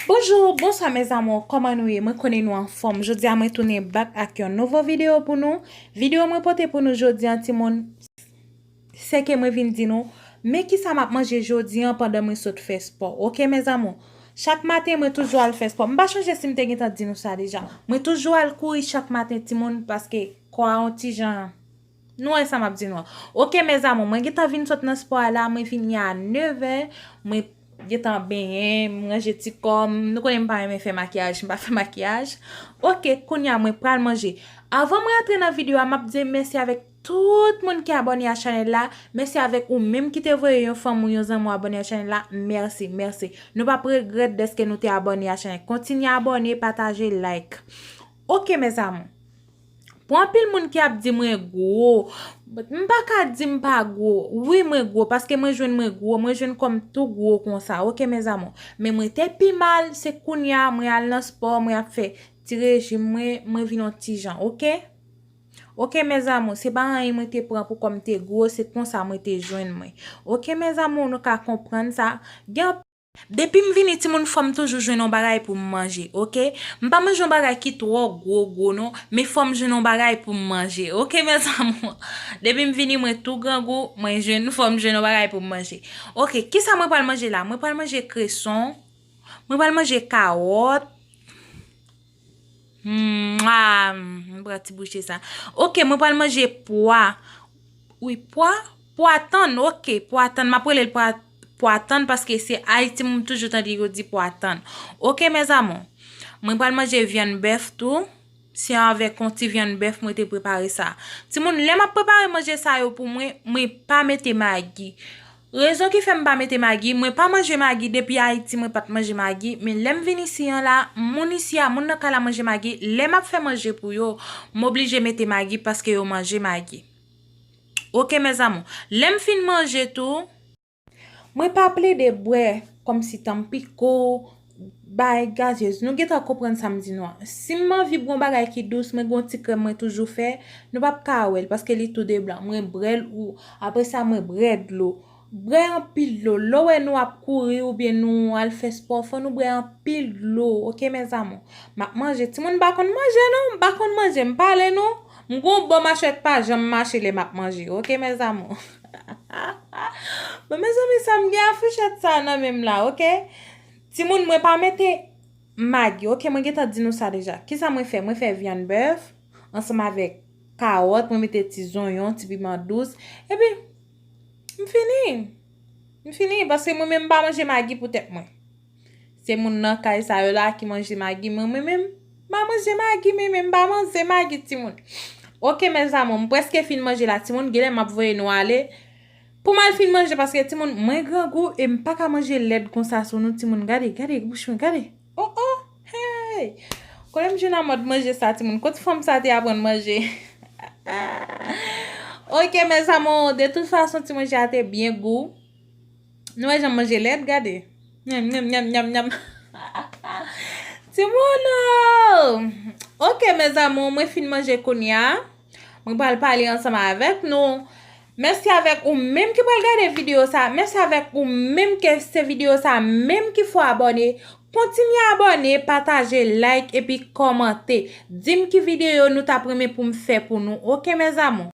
Bonjou, bonswa mes amour, kòman nou ye? Mwen konnen nou anfòm. Jodi a mwen tounen bak ak yon nouvo video pou nou. Video mwen pote pou nou jodi an ti moun, se ke mwen vin di nou, men kisa m ap manje jodi an pandan mwen sot fè spò. Ok mes amour. Chak maten mwen toujou al fè spò. M pa chonje si m te gentan di nou sa deja. Mwen toujou al kouri chak maten ti moun paske kò a yon ti jan. Nou wè sa map di nou an. Ok mes amours mwen gentan vin sot nan sport la mwen vini a 9 è mwen gentan benyen m ranje ti kòm nou konnen m pa renmen fè makiyaj m pa fè makiyaj ok kounya mwen pral manje avan m rantre nan video a map di mèsi avèk tout moun ki abòne a chanèl la mèsi avèk ou menm ki te voye yon fanm ou yon zanmi w abòne a chanèl la mèsi mèsi nou pap regrèt dèske nou te abòne a chanèl kontinye abòne pataje like ok mes amours. Pou anpil moun ki ap di mwen gwo, m pa ka di m pa gwo. Wi mwen gwo, paske mwen jwenn mwen gwo, mwen jwenn kò m tou gwo konsa, ok mèzamou. Men mwen te pi mal, se kounye a mwen al nan spò, mwen ap fè ti rejim mwen, mwen vin yon ti jan, ok. Ok mèzamou, se pa anyen mwen te pran pou kò m te gwo, se konsa mwen te jwenn mwen. Ok mèzamou, nou ka konprann sa. Depim vini timoun fòm toujou jwenn yon bagay poum manje ok m pa manje yon bagay ki twò gwo gwo non men fòm jwenn yon bagay poum manje ok mes amour depim vini mwen tou grangou mwen jwenn fòm jwenn yon bagay poum manje ok kisa mwen pral manje la mwen pral manje kreson mwen pral manje kawòt. Mwen pran ti bouche sa. Ok mwen pral manje pwa. Wi pwa? Pwa tann ok. Pwa tann. Mwen prele pwa tann paske se Haiti mwen toujou tande yo di pwa tann. Ok mes amour. Mwen pral manje vyann bef tou. Se avek yon ti vyann bef mwen te prepare sa. Ti moun lè mwen prepare manje sa yo pou mwen, mwen pa mete magi. Rezon ki fèm pa mete magi, mwen pa manje magi depi ayiti mwen pat manje magi, men lèm vin isi an la, moun isi a moun nan kay la manje magi, lè map fè manje pou yo, m oblije mete magi paske yo manje magi ok mes amour, lèm fin manje tou, mwen pa plede bwè kòmsi tanm piko, Bay gazez. Nou gentan konprann sa m di nou an. Si m anvi bwon bagay ki dous, mwen gen yon ti krèm mwen toujou fè. Nou p ap ka wè l paske li tou de blan. Mwen bre l ou apre sa mwen bre dlo. Bre anpil dlo. Lè w wè nou ap kouri oubyen nou al fè spò, fò nou bre anpil dlo oke mèzamou. M ap manje. Timoun m pa konn manje non. M pa konn manje. M pale nou. M gen yon bò machwè k pa janm mache lè m ap manje oke mèzamou. Bon mezanmi sa m gen a fouchèt sa nan men m la ok Timoun mwen pa mete Magi ok mwen gentan di nou sa deja Kisa mwen fè mwen fè vyann bèf Ansanm avèk kawòt mwen mete ti zonyon ti piman dous Epi m fini M fini paske mwen menm m pa manje magi pou tèt mwen. Se moun nan kay sa yo la ki manje magi mwen mwen menm ma manje magi mwen menm pa manze magi timoun ok mes amour m preske fin manje la timoun genlè map voye nou ale pou mal fin manje paske timoun mwen grangou e m paka manje lèd konsa sou nou timoun gade gade bouch mwen gade oh oh hey kote m jwenn a mòd manje sa timoun kot fanm sa te aprann manje ok mes amour de tout fason ti manje a te byen gou. Nou wè janm manje lèt gade. Nyam nyam nyam nyam nyam. Ti moun ooh. Ok mes amours mwen fin manje kounya. Mwen pral pale ansanm avèk nou. Mèsi avèk ou menm ki pral gade video sa. Mèsi avèk ou menm ke se video sa menm ki fò abòne. Kontinye abòne, pataje, like epi kòmante. Dim ki video nou tap renmen poum fè pou nou ok mes amours.